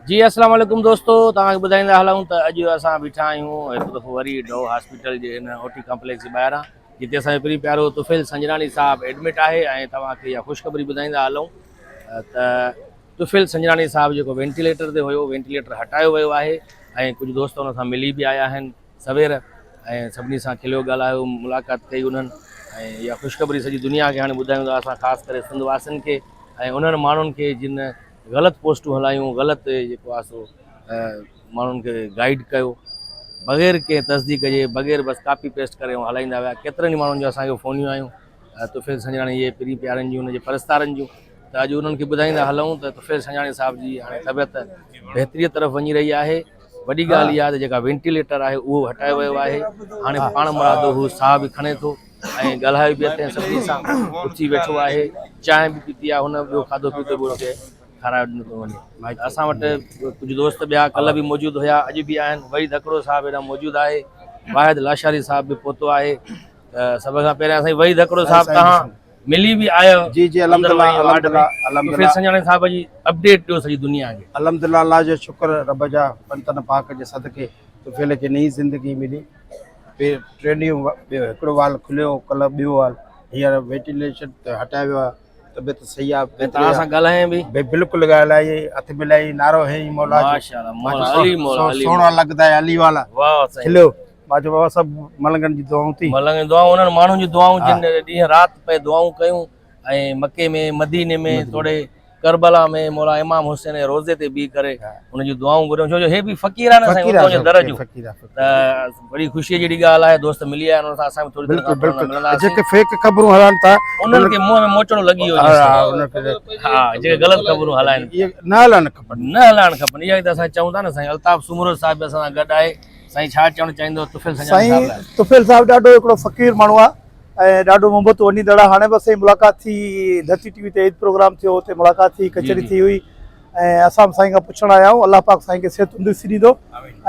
جي السلام عليڪم دوستو توهان کي ٻڌائيندا هلون ته اڄ اسان بيٺا آهيون هڪ دفعو وري ڊو هاسپيٽل جي ان او ٽي ڪمپليڪس جي ٻاهران جتي اسان جو پري پيارو طفيل سنجراڻي صاحب ايڊمٽ آهي ۽ توهان کي اها خوشخبري ٻڌائيندا هلون ته طفيل سنجراڻي صاحب جيڪو وينٽيليٽر تي هيو وينٽيليٽر هٽايو ويو آهي ۽ ڪجهه دوست ان سان ملي به آيا آهن سوير ۽ سڀني سان کليو ڳالهايو ملاقات ڪئي انهن ۽ اها خوشخبري سڄي دنيا کي هاڻي ٻڌايون ٿا اسان خاص ڪري سنڌ واسين کي ۽ انهن ماڻهن کي جن غلط پوسٽون هلايون، غلط جيڪو آهي سو ماڻهن کي گائيڊ ڪيو، بغير ڪنهن تصديق جي، بغير بس ڪاپي پيسٽ ڪري هو هلائيندا ويا. ڪيترن ئي ماڻهن جون اسان کي فونيون آيون، طفيل سنجاڻي جي پرين پيارن جون، ان جي پرستارن جون ته اڄ انهن کي ٻڌائيندا هلئون ته طفيل سنجاڻي صاحب جي هاڻي طبيعت بهتريء طرف وڃي رهي آهي. وڏي ڳالهه اها ته جيڪا وينٽيليٽر آهي اهو هٽايو ويو آهي، هاڻي پاڻمرادو هو ساهه به کڻي ٿو. ۽ ڳالهايو به اٿئي ۽ سڀني سان اٿي ويٺو آهي چانهه به پيتي آهي هن ٻيو کاڌو پيتو به ان کي کارايو ڏنو پيو وڃي اسان وٽ ڪجهه دوست ٻيا ڪلهه به موجود هيا اڄ به آهن وحيد هڪڙو صاحب هيڏانهن موجود آهي واحد لاشاري صاحب به پهتو آهي ته سڀ کان پهريان سائين وحيد هڪڙو صاحب توهان ملي به آيا جي جي الحمدلله الحمدلله الحمدلله سنجاڻي صاحب جي اپڊيٽ ڏيو سڄي دنيا کي الحمدلله الله جو شڪر رب جا پنجتن پاڪ جي صدقي طفيل کي نئين زندگي ملي ٽي ٽي ڏينهن ٻيو هڪڙو وال کليو هو ڪلهه ٻيو وال هينئر وينٽيليشن ته هٽايو ويو آهي طبيعت صحيح آهي بهتري توهان سان آهي. ڳالهايائين به بي- بلڪل ڳالهائي هٿ ملائي نعرو هيئي مولا جو ماشاء الله ماء مولا جو علي سو- مولا سو- علي سونا مولا. لڳدا آهي علي والا واهه سائين کليو ماء جو بابا سڀ ملنگن جي دعائون ٿي ملنگ دعائون انهن ماڻهن جون دعائون جن ڏينهن رات پئي دعائون ڪيون ۽ مڪي ۾ مديني ۾ توڙي ڪربلا ۾ مولا امام حسين جي روضي تي بيهي ڪري ان جون دعائون گهريون ڇو جو هي به فقير آهن سائين ان جو درجو ته وڏي خوشي جهڙي ڳالهه آهي دوست ملي آيا ان سان اسان به ٿوري دير کان پڙهن ملندا جيڪي فيڪ خبرون هلائن ٿا انهن کي منهن ۾ موچڙو لڳي ويو ها جيڪي غلط خبرون هلائن نه هلائڻ کپن نه هلائڻ کپن اها ته اسان چئون ٿا نه سائين الطاف سومرو صاحب به اسان سان گڏ آهي سائين ڇا چوڻ چاهيندو طفيل سائين طفيل صاحب ڏاڍو هڪڙو فقير ماڻهو آهي ۽ ڏاڍو محبت هو اني دڙا هاڻي به اسين ملاقات ٿي ڌرتي ٽي وي تي عيد پروگرام ٿيو اتي ملاقات ٿي ڪچهري ٿي هئي ۽ اسان سائين کان پڇڻ آيا آهيون الله پاڪ سائين کي صحت تندرستي ڏيندو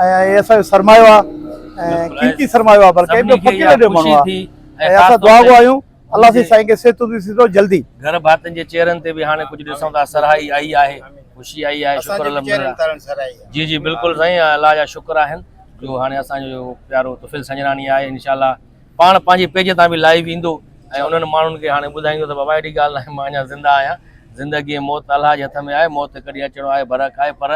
۽ هي اسان جو سرمايو آ ۽ قيمتي سرمايو آ بلڪه ٻيو فقير اهڙو ماڻهو آ ۽ اسان دعا گو آهيون الله سائين سائين کي صحت تندرستي ڏيندو جلدي گهر ڀاتن جي چهرن تي به هاڻي ڪجهه ڏسون ٿا سرهائي آئي آهي خوشي آئي آهي شڪر الحمدلله جي جي بلڪل سائين الله جا شڪر آهن جو هاڻي اسان جو پيارو طفيل سنجراڻي آهي انشاء الله پاڻ پنهنجي پيج تان به لائيو ايندو ۽ انهن ماڻهن کي هاڻي ٻڌائيندو ته بابا اهڙي ڳالهه ناهي مان اڃا زنده آهيان، زندگي ۽ موت الله جي هٿ ۾ آهي، موت هڪ ڏينهن اچڻو آهي برحق آهي پر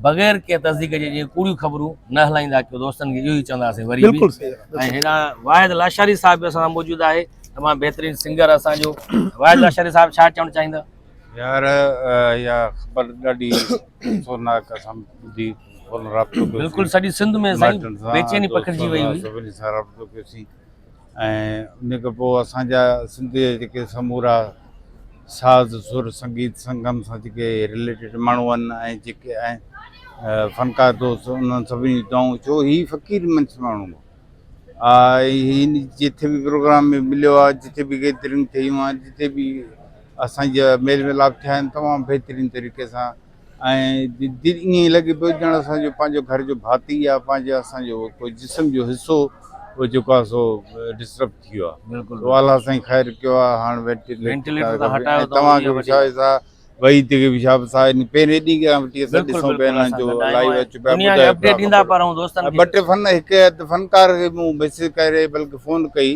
بغير ڪنهن تصديق جي جيئن ڪوڙيون خبرون نه هلائيندا ڪيو دوستن کي اهو ئي چونداسين وري به ۽ هيڏانهن واحد لاشاري صاحب به اسان سان موجود آهي تمام بهترين سنگر اسان جو واحد لاشاري صاحب ڇا چوڻ چاهيندا. يار اها خبر ڏاڍي افسوسناڪ اسان ٻڌي. بلڪل سڄي سنڌ ۾ سائين بيچيني پکڙجي وئي هئي سڀني سان رابطو ڪيوسين ۽ ان کان پوء اسان جا سنڌ جا جيڪي سمورا ساز سر سنگيت سنگم سان جيڪي ريليٽيڊ ماڻهو آهن ۽ جيڪي آهن فنڪار دوست انهن سڀني دعائون ڇو هي فقير منس ماڻهو هن جتي به پروگرام ۾ مليو آهي جتي به گيدرنگ ٿيون آهن جتي به اسانجا ميل ملاپ ٿيا آهن تمام بهترين طريقي سان ۽ دل ائين لڳي پيو ڄڻ اسان جو پنهنجو گهر جو ڀاتي يا پنهنجو اسان جو ڪو جسم جو حصو هو جيڪو آهي سو ڊسٽرب ٿي ويو آهي بلڪل والله الله سائين خير ڪيو آهي هاڻ وينٽيليٽر ته هٽايو توهان کي به شاهد صاحب وحيد کي به شاهد صاحب پهرين ڏينهن کان وٺي اسان ڏسون پيا انهن جو لائيو اچ پيا دنيا کي اپڊيٽ ڏيندا پر دوستن کي ٻه ٽي فن هڪ فنڪار کي مون ميسيج ڪري بلڪه فون ڪئي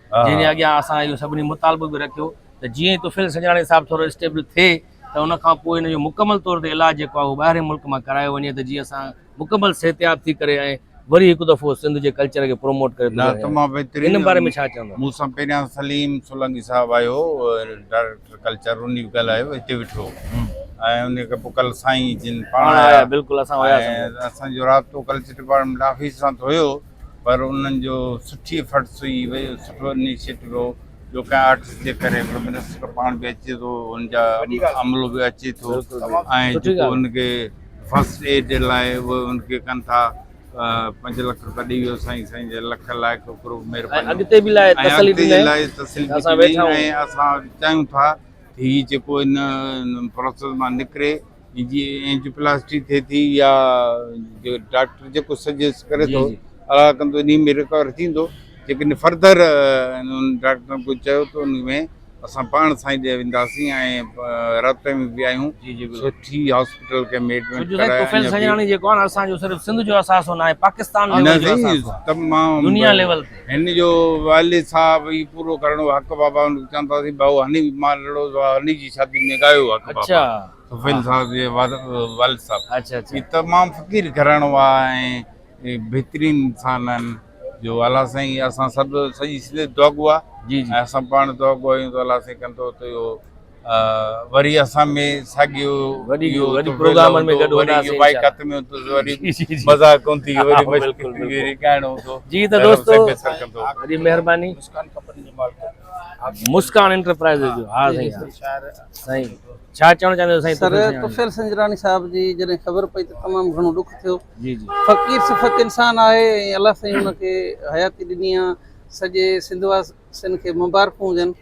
جنهن جي اڳيان اسان اهو سڀني مطالبو به رکيو ته جيئن ئي طفيل سنجراڻي صاحب ٿورو اسٽيبل ٿئي ته ان کان پوء هن جو مڪمل طور تي علاج جيڪو آهي اهو ٻاهرين ملڪ مان ڪرايو وڃي ته جيئن اسان مڪمل صحتياب ٿي ڪري ۽ وري هڪ دفعو سنڌ جي ڪلچر کي پروموٽ ڪري سگهون. تمام بهترين. ان باري ۾ ڇا چوندو؟ مون سان پهريان سليم سولنگي صاحب آيو ڊائريڪٽر ڪلچر ان به ڳالهايو هتي ويٺو ۽ ان کان پوء ڪل سائين جن پاڻ آيا بلڪل اسان وياسين اسان جو رابطو ڪلچر ڊپارٽمينٽ آفيس سان ٿيو پر انهن جو سٺي فٽس هئي اهو سٺو انيشيٽو هو جو ڪنهن آرٽسٽ جي ڪري به منسٽر پاڻ به اچي ٿو ان جا عملو به اچي ٿو ۽ جيڪو ان کي فرسٽ ايڊ لاء اهو ان کي ڪن ٿا پنج لک روپيا ڏيئي ويو سائين سائين جي لک لائق ڪرو مهرباني اڳتي به لاء تسلي به لاء تسلي به اسان ويٺا آهيون اسان چاهيون ٿا هي جيڪو ان پروسيس مان نڪري جي اينجيوپلاسٽي ٿئي ٿي يا جو ڊاڪٽر جيڪو سجيسٽ ڪري ٿو صلاح ڪندو انهي ۾ رڪور ٿيندو جيڪڏهن فرڌر انهن ڊاڪٽرن ڪجهه چيو ته انهي ۾ اسان پاڻ سائين ڏي وينداسين ۽ رابطي ۾ به آهيون سٺي هاسپيٽل ڪنهن ۾ ايڊمٽ ڪرايو طفيل سڄڻاڻي جيڪو آهي نه اسان جو صرف سنڌ جو اثاثو ناهي پاڪستان ليول جو اثاثو آهي تمام دنيا ليول تي هن جو والد صاحب هي پورو ڪرڻ هو حق بابا هن کي چوندا سين ڀائو هني مان لڙو ٿو هني جي شادي ۾ ڳايو هو حق بابا سفيل صاحب جي والد صاحب هي تمام فقير گهراڻو آ ۽ بهترين انسان آهن جو الله سائين اسان سڀ سڄي سنڌ دعا گو آ جي جي اسان پاڻ دعا گو آهيون ته الله سائين ڪندو ته اهو وري اسان ۾ ساڳيو وڏي جو وڏي پروگرامن ۾ گڏ هوندا سي بائي کت ۾ تو وري مزا ڪون ٿي وري مشڪل ٿي وري ڳائڻو هوندو جي ته دوستو وري مهرباني مسڪان کپن جي مالڪ مسڪان انٽرپرائزز جو ها سائين سائين ڇا چوڻ چاهيندو سائين سر طفيل سنجراڻي صاحب جي جڏهن خبر پئي ته تمام گهڻو ڏک ٿيو جي جي فقير صفت انسان آهي ۽ الله سائين ان کي حياتي ڏني آ سڄي سنڌ واسين کي مبارڪون هجن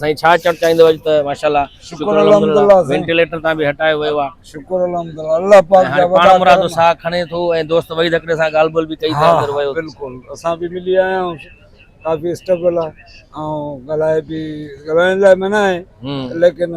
سائين ڇا چوڻ چاهيندو اڄ ته ماشاءالله شڪر الحمدلله وينٽيليٽر تان به هٽايو ويو آ شڪر الحمدلله الله پاڪ جا وڏا پاڻ مرادو ساهه کڻي ٿو ۽ دوست وحيد هڪڙي سان ڳالهه ٻولهه به ڪئي ته اندر ويو بلڪل اسان به ملي آيا آهيون ڪافي اسٽرگل آ ۽ ڳالهائي به ڳالهائڻ لاء منع آهي ليڪن